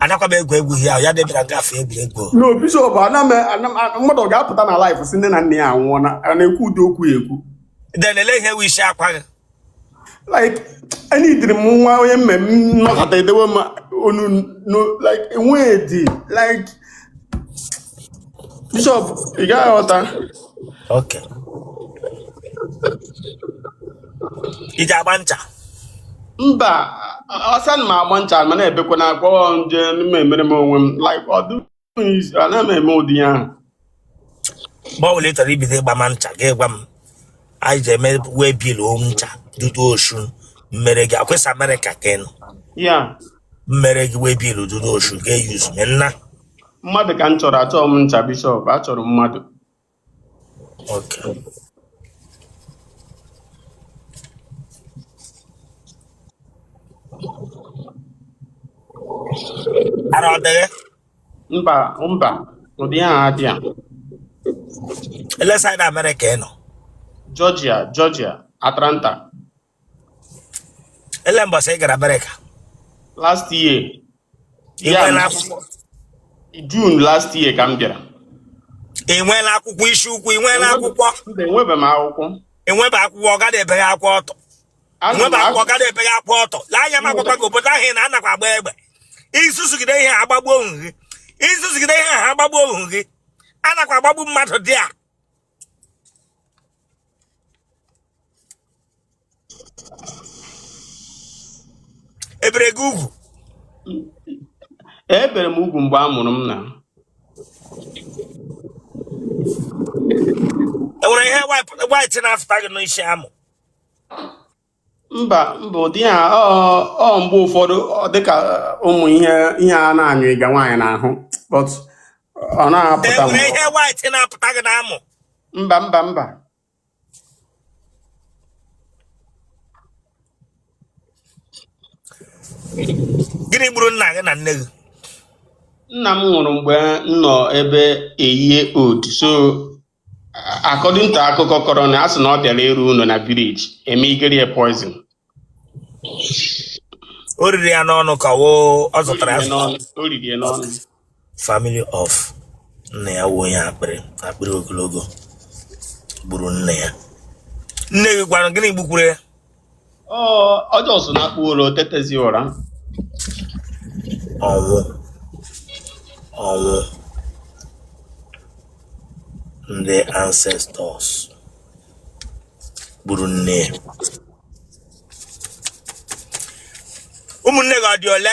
anakwa m egwu egwu ihe ahụ ya debịara nga afọ egwuregwu no bishọp ana m ana m- ana- mmadụ ọ ga-apụta na live sị nne na nna ya anwụọna a na-ekwu ụdị okwu ya ekwu then ele ihe wishi akwa gị like enidiri m nwa onye mmemme nnọkọta edewe m onu no like enweghị dị like bishọp ị gaghị aghọta okay ị ga-agba ncha mba o sir ana m agba ncha mana ebekwana akwa nje m emere m onwe m like ọ dịghị easy anaghị m eme ụdị ihe ahụ mgbe ọbụla ị chọrọ ibido ịgbama ncha gị gwa m anyị ji eme waybill o ncha dudu osun m mere gị ọkwa ị sị amerịka ka ị nọ ya m mere gị waybill dudu osun gị eyuzume nna mmadụ ka m chọrọ achọghị m ncha bishọp achọrọ m mmadụ oke ara ọ dịghị mba mba ụdị ya adị ya ele side amerịka ị nọ georgia georgia atlanta ele mbọsị ị gara amerịka last year ị ya nweela akwụkwọ june last year ka m bịara ị nweela akwụkwọ isi ukwu ị nweela akwụkwọ mba enwebe m akwụkwọ ị nwebe akwụkwọ ọ gaghị ebe gị akwụkwọ ọtọ nweba akwa ọ gaghị ebeghị akwa ọtọ lee anya m agwakwa gị obodo ahụ ị nọ anakwa agba egbe ị zuzugide ihe agbagbuo ohu gị ị zuzugide ihe ha agbagbuo ohu gị anakwa agbagbu mmadụ there ebere gị ugwu ebere m ugwu mgbe a mụrụ m na enwere ihe white na-afụta gị n'isi amụ mba mba ụdị ihe ahụ mgbe ụfọdụ dịka ụmụ ihe ihe a na-anyụ ịga nwaanyị n'ahụ but ọ na-apụta m ihe white na-apụta gị n'amụ mba mba mba gịnị gburu nna gị na nne gị nna m nwụrụ mgbe m nọ ebe a year old so according to akụkọ a kọrọ m a sị na ọ bịara ịrụ ụlọ na village eme igeri ya poison o riri ya n'ọnụ ka ọ wụ ọ zọtara ya azọta o riri ya n'ọnụ family of nna ya wuo ya akpịrị akpịrị ogologo gburu nna ya nne gị kwanụ gịnị gbukwuru ya ọjọọ so na akpụ ụlọ tetezi ụra ọnwụ ọnwụ ndị ancestors gburu nne ụmụnne gị ọ dị ole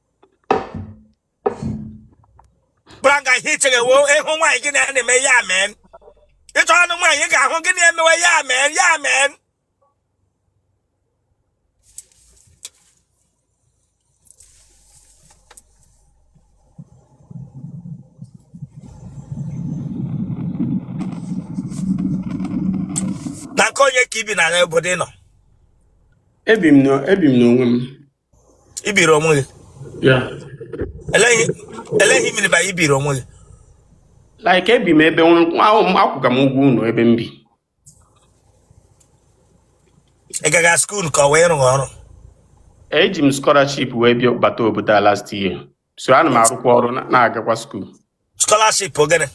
branga ihe ichere wo ịhụ nwaanyị gị na-eme ya mee ịchọ anụ nwaanyị ga-ahụ gị na-emewe ya mee ya mee na nke onye ka i bi na obodo ị nọ ebi m n'onwe m i biri onwe gị yeah ele ihe ele ihe ị mean by i biri onwe gị like ebi m ebe nwa ahụ m akwụga m ụgwọ ụnọ ebe m bi ị gaga skuul ka ọ wụ ị rụga ọrụ eji m scholarship wee bịa bata obodo a last year so ana m arụkwa ọrụ na- na-agakwa skuul scholarship ọ gịnị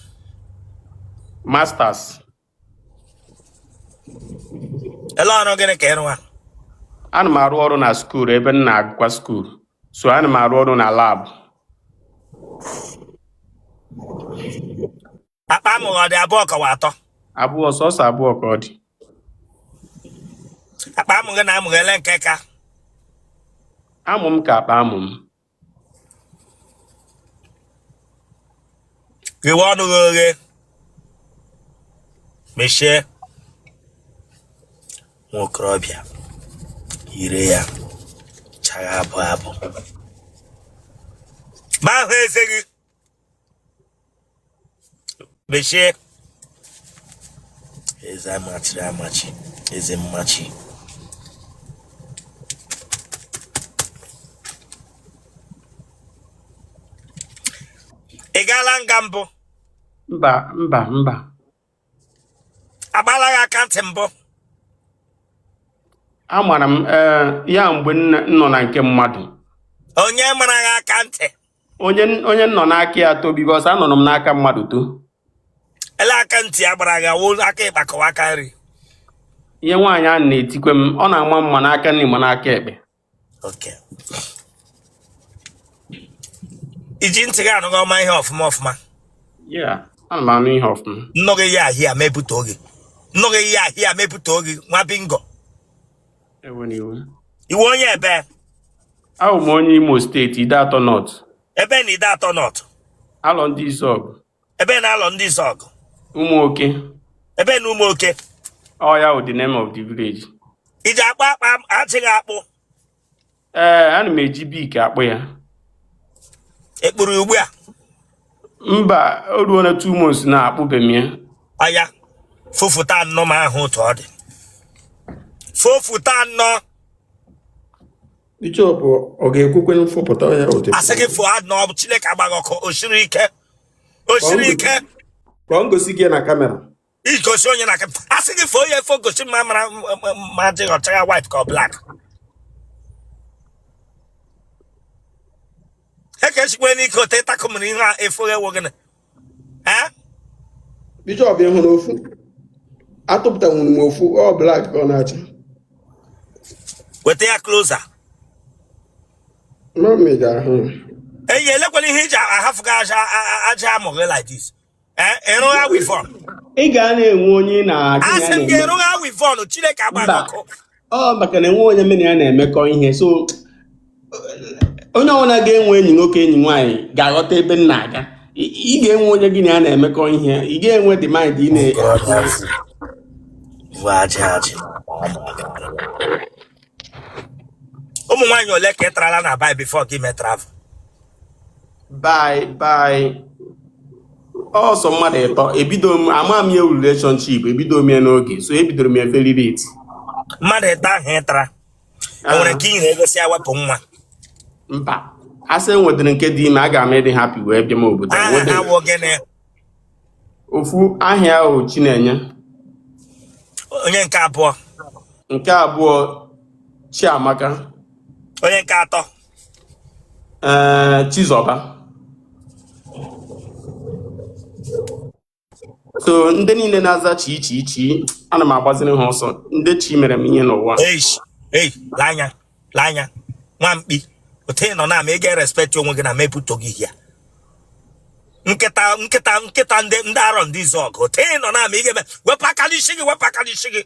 masters ele ọrụ gịnị ka ị rụwa ana m arụ ọrụ na skuul ebe m na-agụkwa skuul so ana m arụ ọrụ na lab akpa amụ gị ọ dị abụọ ka ọ wụ atọ abụọ sọsọ abụọ ka ọ dị akpa amụ gị na amụ gị ele nke ka amụ m ka akpa amụ m ghewe ọnụ gị oghe mechie nwa okorobịa ire ya chagha abụ abụ m ahụ eze gị mechie eze a machiri amachi eze mmachi ị gaala nga mbụ mba mba mba a gbaala gị aka ntị mbụ a mara m eh, yeah mgbe m nọ na nke mmadụ onye mara gị aka ntị onye onye m nọ n'aka ya too because anọrọ m n'aka mmadụ too ele aka ntị a gbara gị ọ wụ aka ịkpa ka ọ wụ aka nri ihe nwaanyị a na-etikwe m ọ na-ama m ma n'aka nri ma n'aka ekpe okay i ji ntị gị anụghị ọma ihe ọfụma ọfụma Yeah, ana m anụ ihe ọfụma. nnụghị ya ahịa mepụta oge nnụghị ya ahịa mepụta oge nwa bingo Ewe n'iwu. ị wụ onye ebee Abụ m onye Imo steeti, Ideato North, ebee na Ideato North Arondizuogu. ebe n'arọ ndị izuọgụ ụmụ oke ebe na ụmụ oke ọ ya wụ the name of the village iji akpa akpa ajị gị akpụ ee ana m eji Bic akpụ ya ị kpụrụ ya ugbu a mba o ruona two months na akpụbe m ya oya fofụta nnọ m hụ otu ọ dị fofụta nnọ Bishop ọ ga-ekwukwe mfọpụta ya otu asị gị fụ na ọ bụ Chineke agbaa gị ọkụ o siri ike o siri ike ka ọ ngosi gị na camera igosi onye na camera asị gị fụ onye fo gosi m mara ma ajị gị ọ chagha white ka ọ black eke chikwe n'ike ote ịtakụ mere ihe a efu ewo gịnị bishop ị hụrụ ofu atụpụtanwuru m ofu ọ black ka ọ na-acha weta ya closer mami ga-ahụ eyi elekwala ihe i ji ahafụga ajị amụ gị like this eh, ị rụgha weavon ị ga na-enwe onye ị na-agụ asị m ga-arụgha weavon chineke agbaa gị ọkụ ọ maka na enwe onye m na ya na-emekọ ihe so onye ọbụla ga-enwe enyi nwoke enyi nwaanyị ga-aghọta ebe m na-aga ị ga-enwe onye gị na ya na-emekọ ihe ị ga-enwe dị mind ị na ụmụ nwaanyị ole ka ị tarala na bai before ka i me travel bye bye ọ sọ mmadụ ịtọ ebido m ama m ya relationship ebido m ya n'oge so ebidoro m ya very late mmadụ ịtọ ahụ ị tara o nwere nke i nye ego sị ya wepụ nwa mba a sị e nwedịrị nke dị ime aga m ịdị happy wee bịa m obodo aha ha wụ gịnị ofu aha ya wụ Chinenye onye nke abụọ nke abụọ Chiamaka onye nke atọ ee eh, Chizọba so ndị niile na-aza chi chi chi ana m agbaziri ha ọsọ ndị chi mere m ihe n'ụwa lee anya nwa mkpi otu ị nọ na ama ị ga-erespect onwe gị na mepụta gị ya nkịta nkịta nkịta ndị ndị arọ ndị izuọgụ otu ị nọ na ama ị ga-eme wepụ aka n'isi gị wepụ aka n'isi gị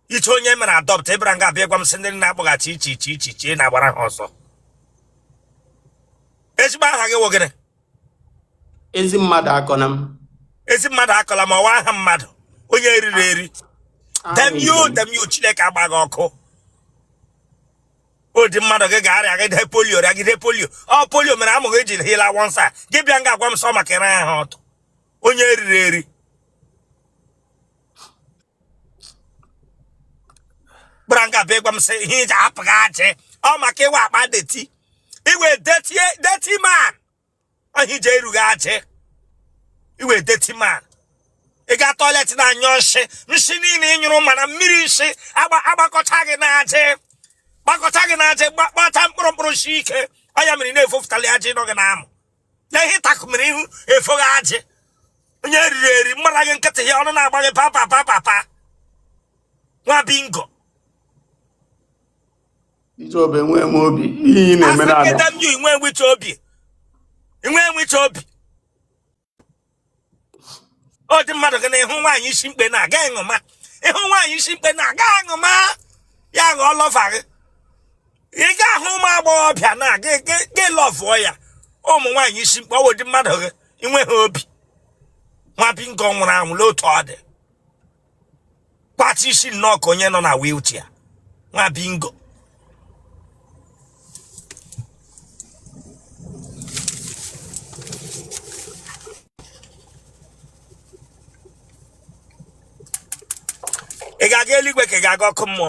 ị che onye mere adopt ị bịara nga a bịa gwa m sị ndị na-akpọgha chi chi chi chi chi ị na-agbara ha ọsọ ezigbo aha gị wụ gịnị ezi mmadụ akọla m ezi mmadụ akọla m ọ wụ aha mmadụ onye eriri eri demio demio chineke agbaa gị ọkụ ọ dị mmadụ gị ga-arịagide polio rịagide polio ọ polio mere amụ gị eji hila wọnsa gị bịa nga a gwa m sọ maka ịra ha ọtụ onye eriri eri gbara nga bịa gwa m sị ihe iji apụghị ajị ọ maka ị wụ akpa dirty ị wụ dirty dirty man ọ ihe iji erughị ajị ị wụ dirty man ị ga toilet na anyụ nshị nshị niile ị nyụrụ mana mmiri nshị agba agbakọcha gị na ajị gbakọcha gị na ajị gba- gbacha mkpụrụ mkpụrụ shi ike ọ ya mere ị na-efofụtali ajị nọ gị na amụ ya ihe ịtakụmere ihu efoghị ajị onye riri eri mmara gị nkịtị ya ọnụ na-agba gị papa papa pa nwa bingo ichobe nwee m obi ihe ị na-eme na-abịa. African Damn you, inwe enwecha obi inwe enwecha obi ọ ụdị mmadụ gị na ịhụ nwaanyị isi mkpe na-aga ịṅụma ịhụ nwaanyị isi mkpe na-aga aṅụma ya ṅụọ lover gị ị ga-ahụ ụmụ agbọghọbịa na-aga gị lọvụọ ya ụmụ nwaanyị isi mkpe ọ wụ ụdị mmadụ gị inweghị obi nwa bingo nwụrụ anwụ n'otu ọ dị kpachi ishi nnọọ ka onye nọ na wheelchair nwa bingo ị ga-aga eluigwe ka ị ga-aga ọkụ mmụọ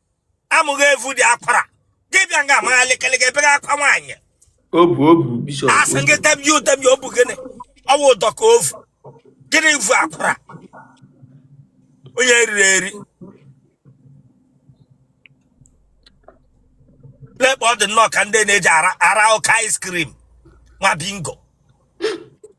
amụ ghị evu dị akwara gị bịa nga a magha lekeleke ebere akwa nwaanyị obu obu bishop asị gị demye udemye obu gịnị ọ wụ ụdọ ka ovu gịnị vu akwara onye riri eri lekpa ọ dị nnọọ ka ndị na-eji ara ara ụka ice cream nwa bingo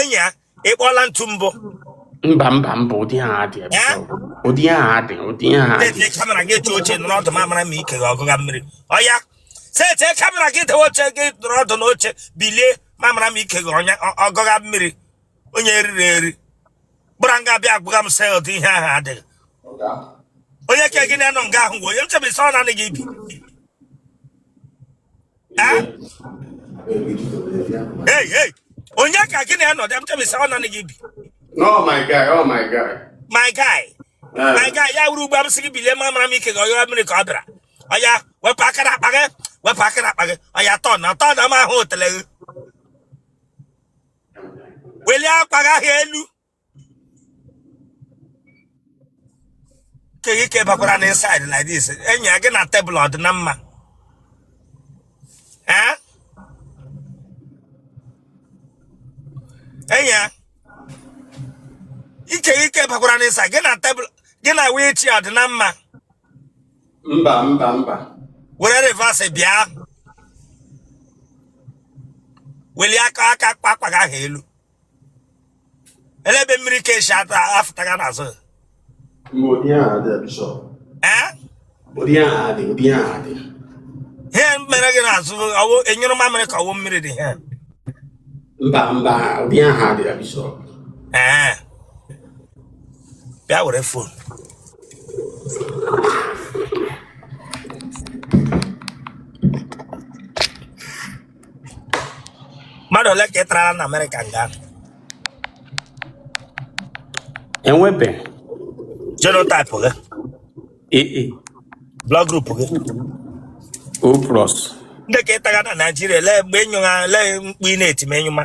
enyi ya ịkpọla ntu mbụ mba mba mba ụdị ha adị ụdị ha adị ụdị ha adị camera gị eche oche nọrọ ọdụ mamara m ike gị ọgụga mmiri ọya sete camera gị dewe oche gị nọrọ ọdụ n'oche bilie mamara m ike gị ọgụga mmiri onye e riri eri gbara nga bịa agwagha m sị ụdị ihe ahụ adịghị onye ka gị na ya nọ nga ahụ gwa onye m chebe sị ọ nanị gị bi Eh? Hey, hey. Onye ka gị na ya nọdụ m chebe sị ọ nanị gị bi. No, my guy, oh my guy. My guy. Eh. My guy, ya wụrụ ugbu a m sị gị bilie mamara m ike gị ọyọrọ mmiri ka ọ bịara. Ọya, wepụ aka na akpa gị, wepụ aka na akpa gị. Ọya turn turn na m ahụ otele gị. Welie akpa gị ahụ elu. ke ghị ike bakwara na inside like this enyi ya gị na table ọ dị na mma ee enyi ya ike ghị ike bakwara na inside gị na table gị na wee chi ọ dị na mma mba mba mba were reverse bịa welie aka aka akpa gị ahụ elu ele ebe mmiri ka esi ata afụta gị n'azụ ihe mere gị n'azụ ọ wụ e nyụrụ mamịrị ka ọ wụ mmiri dị ihe mba mba ụdị aha dị ya bishọp ee bịa were fon mmadụ ole ka ị tarala na amerịka nga enwebe genotype gị ee blood group gị o plus ndị ka ị tara na naijiria lee mgbe ị nyụ ha lee mkpu ị na-eti ma ị nyụma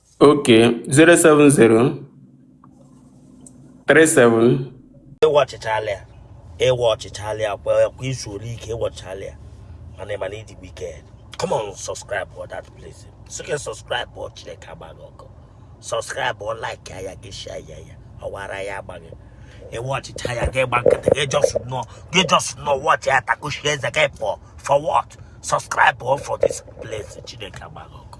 Okay, 070 37 ị watchichala ya ị watchichala ya kwa kwa i zuola ike ị watchichala ya mana ị ma na ị dị wicked come on subscribe for that place soke subscribe for chineke agba gị ọkụ subscribe for like ya gị share ya ya ọwara ya agbaghị ị watchịcha ya gị gba nkịtị gị just know gị just know watch ya takushi eze gị for for what subscribe for for this place chineke agba gị ọkụ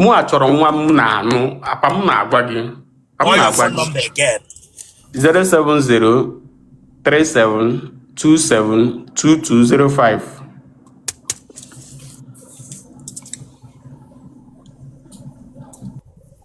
mụ achọrọ nwa m na-anụ apa m na-agwa gị apa m Call your na-agwa phone gị number again. 07037272205 Ọ